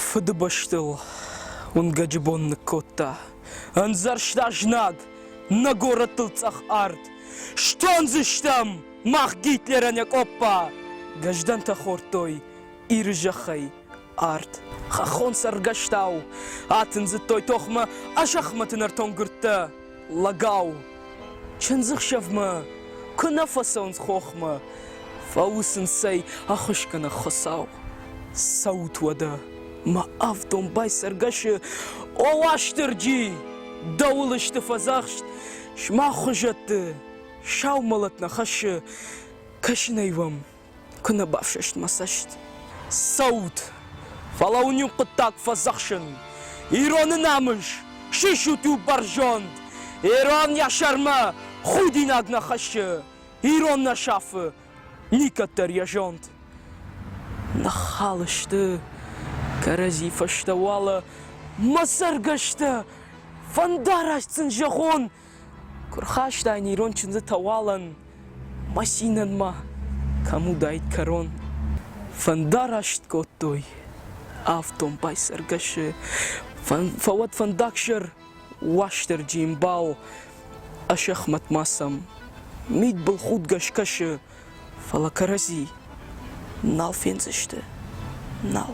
Фыдыбӕстыл уынгӕджы бон ныккодта. Ӕндзӕрста знаг, нӕ горӕттыл цъӕх арт. Стондзыстӕм мах Гитлерӕн йӕ къоппа! Гӕздӕнтӕ хордтой Иры зӕххӕй арт. Хӕххон цӕргӕстау атындзыдтой тохмӕ Асӕхмӕты нӕртон гуырдтӕ. Лӕгау, чындзыхсӕвмӕ куы нӕ фӕцӕуынц хохмӕ, фӕуысынц ӕй ӕххуысгӕнӕг хуыцау. Цӕут уӕдӕ, мӕ ӕвдом байсӕргӕсы, о Уастырджи! Дӕуыл сты фӕдзӕхст, сымах хуызӕтты, сау мӕлӕт нӕ хӕссы, кӕсын ӕй уӕм, Куы нӕ бафсӕст мӕ цӕст. Цӕут! Фӕлӕ уын иу хъуыддаг фӕдзӕхсын. Ироны намыс, сисут у бӕрзонд. Ирон йӕ сӕрмӕ худинаг нӕ хӕссы, ирон нӕ сафы, никӕддӕр йӕ зонд. Ныххал сты кӕрӕдзи фӕстӕ уӕлӕ мӕ цӕргӕстӕ, фӕндараст сын зӕгъон, Куы рхастай не ирон чындзытӕ уалӕн, Масинӕнмӕ кӕм уыдаид кӕрон, Фӕндараст кодтой афтон байсӕргӕсы, Фӕуӕд фӕндагсӕр Уастырджи ӕмбал, Асӕхмӕт ма сӕм мидбылхудгӕ скӕсы, Фӕлӕ кӕрӕдзи нал фендзысты, нал.